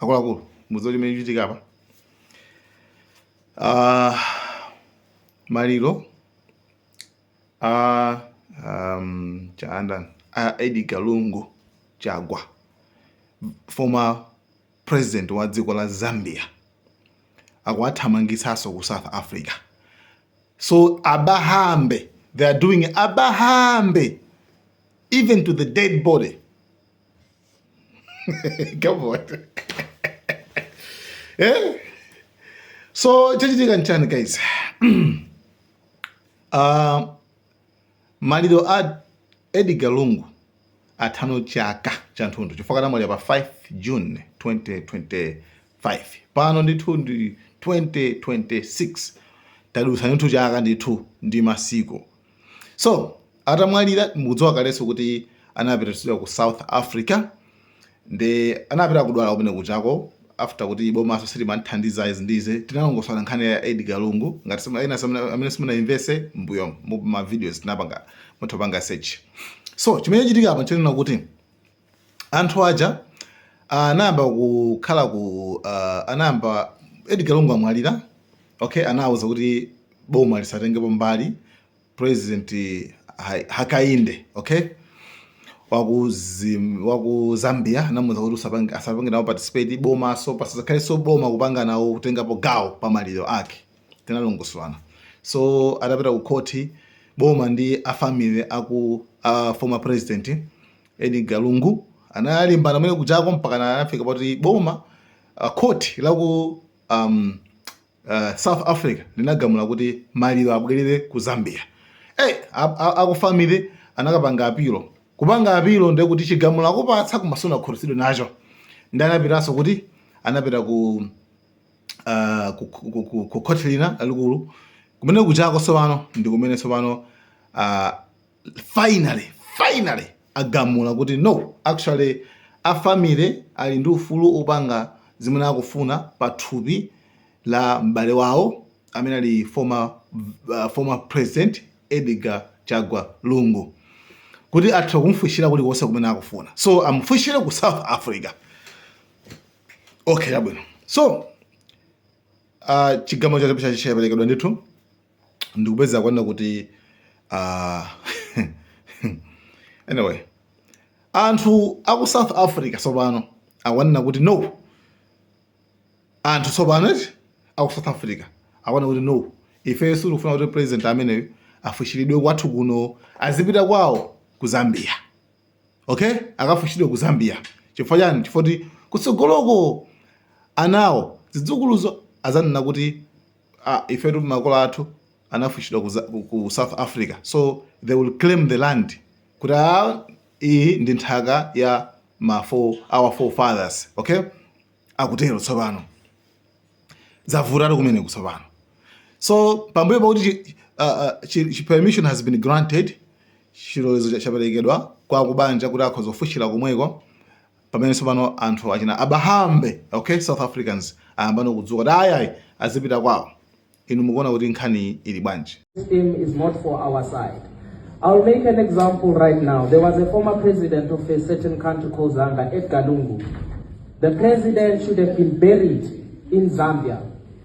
akuluakulu mudziwa chimene chikuchitika apa uh, maliro a um, a Edgar Lungu Chagwa former president wa dziko la Zambia akuwathamangitsanso ku South Africa so abahambe they are doing abahambe even to the dead body come on eh? so chachitika nchani guys uh, maliro a edgar lungu athano chaka chathunthu chifukwa anamwalira pa 5 june 2025 pano ndithu ndi 2026 tadutsa ndithu chaka ndithu ndi masiku so atamwalira mukudziwa kaleso kuti anapititsidwa ku south africa nde anapita kudwala kumene kuchako after kuti bomaso silimamthandiza izi ndi zoti tinalongosolana nkhani ya edgar lungu ngati simu- ena simu- amene simunayimvetse mbuyomu mavideos tinapanga mutapanga search so chimene chachitika apa nchonena kuti Anthu aja ah, anayamba kukhala ku ah, anayamba Edgar Lungu amwalira okay, anawuza kuti boma lisatengepo mbali president Ha- Hakainde okay waku, Zim- waku Zambia anamuza kuti usapange- asapange nawo participate boma so pasakhale so boma kupanga nawo kutengapo gawo pa maliro ake tinalongosolana so atapita ku khoti boma ndi a family aku a former president Edgar Lungu analimbana kumene kuchako mpakana anafika poti boma uh, court la ku um, uh, South Africa linagamula kuti maliro abwerere ku Zambia. Hey, aku family anakapanga apilo kupanga apilo ndiye kuti chigamulo akupatsa koma sunakhutitsidwe nacho nde anapitaso kuti anapita ku uh, ku, ku, ku, ku, ku court lina lalikulu kumene kuchako tsopano ndi kumene tsopano uh, finally finally agamula kuti no actually a family ali ndi ufulu opanga zimene akufuna pa thupi la m'bale wawo amene ali former, uh, former president edgar chagwa lungu kuti atha kumfushira kuti konse kumene akufuna so amfushire ku south africa okay chabwino so uh, chigamulo chaperekedwa ndithu ndikupeza kunena kuti uh, anyway anthu aku south africa tsopano akwanena kuti no anthu tsopano eti aku south africa akwanena kuti no ifeyo sitikufuna kuti president ameneyo afuchiridwe kwathu kuno azipita kwawo ku zambia okay akafuchiridwe ku zambia chifukwa chani chifukwa kuti kutsogoloko anawo zidzukuluzo azanena kuti ah, ifetu makolo athu anafuchiridwa ku, za- ku- ku south africa so they will claim the land kuti ah, iyi ndi nthaka ya ma four, our forefathers okay akutero tsopano zavutatu kumeneku tsopano so pambuyo pakuti chi- ah, ah, chi- chi- permission has been granted chilolezo cha- chaperekedwa kwa kubanja kuti akhoza kufuchira komweko pamene tsopano anthu achina abahambe okay south africans ayambano kudzuka kuti ayi ayi azipita kwawo inu mukuona kuti nkhaniyi ili bwanji System is not for our side. I'll make an example right now. There was a former president of a certain country called Zambia, Edgar Lungu. The president should have been buried in Zambia.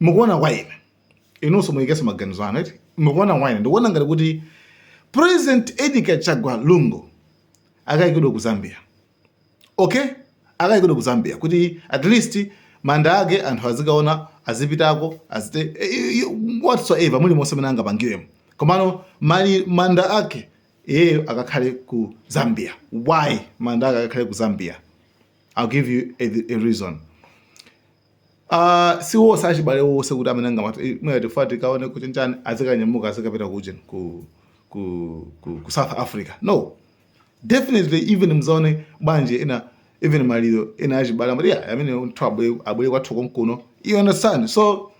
mukuona kwa ine inunso muyikenso maganizo anu eti mukuona kwa ine ndikuona ngati kuti president edgar chagwa lungu akayikidwe ku zambia okay akayikidwe ku zambia kuti at least manda ake anthu azikaona azipitako azite eh, eh, eh, whatsoever mulimonse mene angapangiremo komano mali manda ake iyeyo akakhale ku zambia why manda ake akakhale ku zambia i'll give you a, a reason Ah, si wose achibale wose kuti amene angamati eh, mwina tifuna tikaone kuti njani azikanyamuka azikapita ku ujeni ku, ku, ku, ku south africa no definitely even muzaona mabanja ena even maliro ena achibale amati yeah, ameneyo munthu abwere abwere kwathu konkuno you understand so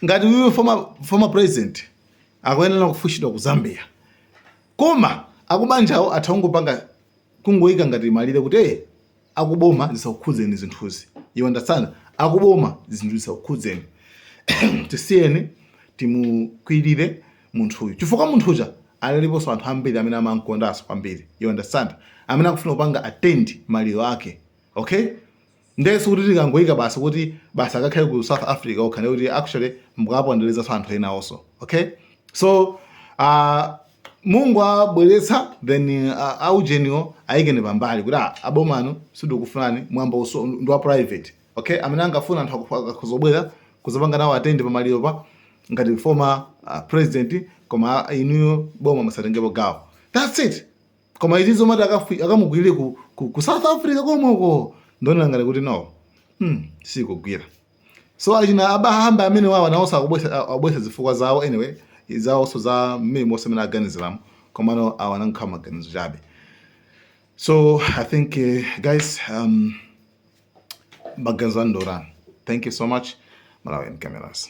ngati uyu former, former president akuyenera kufuchiridwa ku zambia koma akubanjawo atha kungopanga kungoyika ngati malire kuti eh, akuboma zisakukhudzeni zinthuzi you understand akuboma zinthu zisakukhudzeni tisiyeni timukwirire munthuyu chifukwa munthuja aliponso anthu ambiri amene amamkondanso kwambiri you understand amene akufuna kupanga attend maliro ake okay nde sikuti tikangoyika basi kuti basi akakhale ku south africa okha ndekuti actually mukapondelezaso anthu ena also okay so uh, mungowabweretsa then uh, aujeniwo ayikeni pambali kuti ah, aboma inu sindikufunani mwambowu ndi wa private okay amene angafuna anthu akupha- akakuzobwera kuzapanga nawo attend pamaliro pa ngati former uh, president koma inuyo boma musatengepo gawo that's it koma izi zomati akafi- akamukwirire ku, ku, ku south africa komweko ndikuona ngati kuti no hmm, sikugwira so achina abahamba amenewa awa nawonso akubweretsa zifukwa zawo anyway zawonso za mmene monse mmene aganiziramo komano awa anangokhala maganizo chabe so i think uh, guys um, maganizo andolana thank you so much malawian cameras